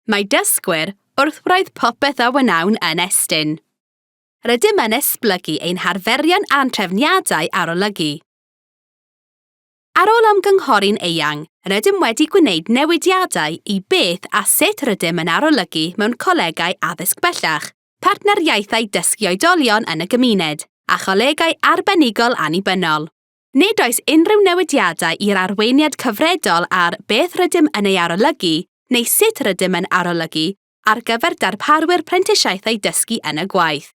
Mae dysgwyr wrth wraidd popeth a wnawn yn Estyn. Rydym yn esblygu ein harferion a'n trefniadau arolygu. Ar ôl ymgynghori'n eang, rydym wedi gwneud newidiadau i beth a sut rydym yn arolygu mewn colegau addysg bellach, partneriaethau dysgu oedolion yn y gymuned, a cholegau arbenigol annibynnol. Nid oes unrhyw newidiadau i'r arweiniad cyfredol ar beth rydym yn ei arolygu neu sut rydym yn arolygu ar gyfer darparwyr prentisiaethau dysgu yn y gwaith.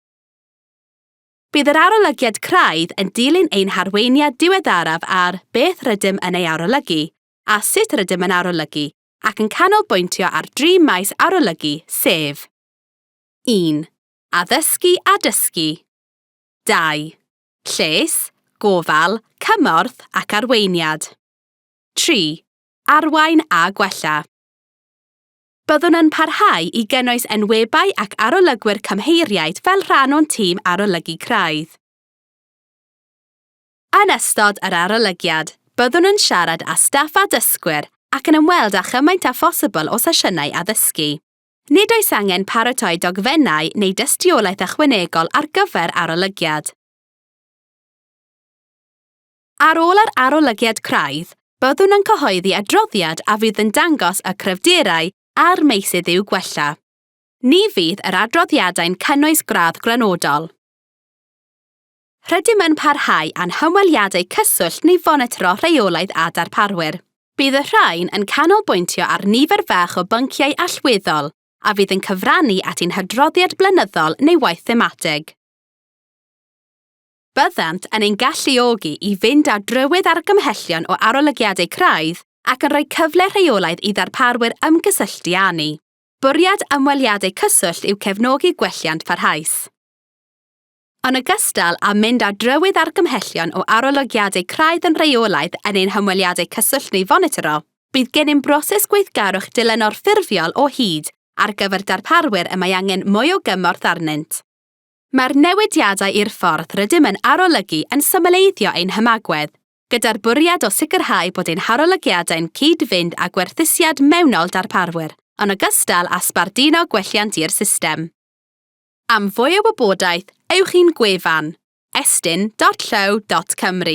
Bydd yr arolygiad craidd yn dilyn ein harweiniad diweddaraf ar beth rydym yn ei arolygu a sut rydym yn arolygu ac yn canolbwyntio ar dri maes arolygu, sef 1. Addysgu a dysgu 2. Lles, gofal, cymorth ac arweiniad. 3. Arwain a gwella. Byddwn yn parhau i gynnwys enwebau ac arolygwyr cymheiriaid fel rhan o'n tîm arolygu craidd. Yn ystod yr arolygiad, byddwn yn siarad â staff a dysgwyr ac yn ymweld â chymaint â phosibl o sesiynau addysgu. Nid oes angen paratoi dogfennau neu dystiolaeth ychwanegol ar gyfer arolygiad. Ar ôl yr arolygiad craidd, byddwn yn cyhoeddi adroddiad a fydd yn dangos y cryfderau a'r meysydd i'w gwella. Ni fydd yr adroddiadau'n cynnwys gradd grynodol. Rydym yn parhau â'n hymweliadau cyswllt neu fonitro rheolaidd â darparwyr. Bydd y rhain yn canolbwyntio ar nifer fach o bynciau allweddol a fydd yn cyfrannu at ein hadroddiad blynyddol neu waith thematig. Byddant yn ein galluogi i fynd ar drywydd argymhellion o arolygiadau craidd ac yn rhoi cyfle rheolaidd i ddarparwyr ymgysylltu â ni. Bwriad ymweliadau cyswllt yw cefnogi gwelliant parhaus. Yn ogystal â mynd ar drywydd argymhellion o arolygiadau craidd yn rheolaidd yn ein hymweliadau cyswllt neu fonitro, bydd gennym broses gweithgarwch dilynol ffurfiol o hyd ar gyfer darparwyr y mae angen mwy o gymorth arnynt. Mae'r newidiadau i'r ffordd rydym yn arolygu yn symleiddio ein hymagwedd, gyda'r bwriad o sicrhau bod ein harolygiadau'n cyd-fynd â gwerthusiad mewnol darparwyr, yn ogystal â sbarduno gwelliant i'r system. Am fwy o wybodaeth, ewch i'n gwefan, estyn.llyw.cymru.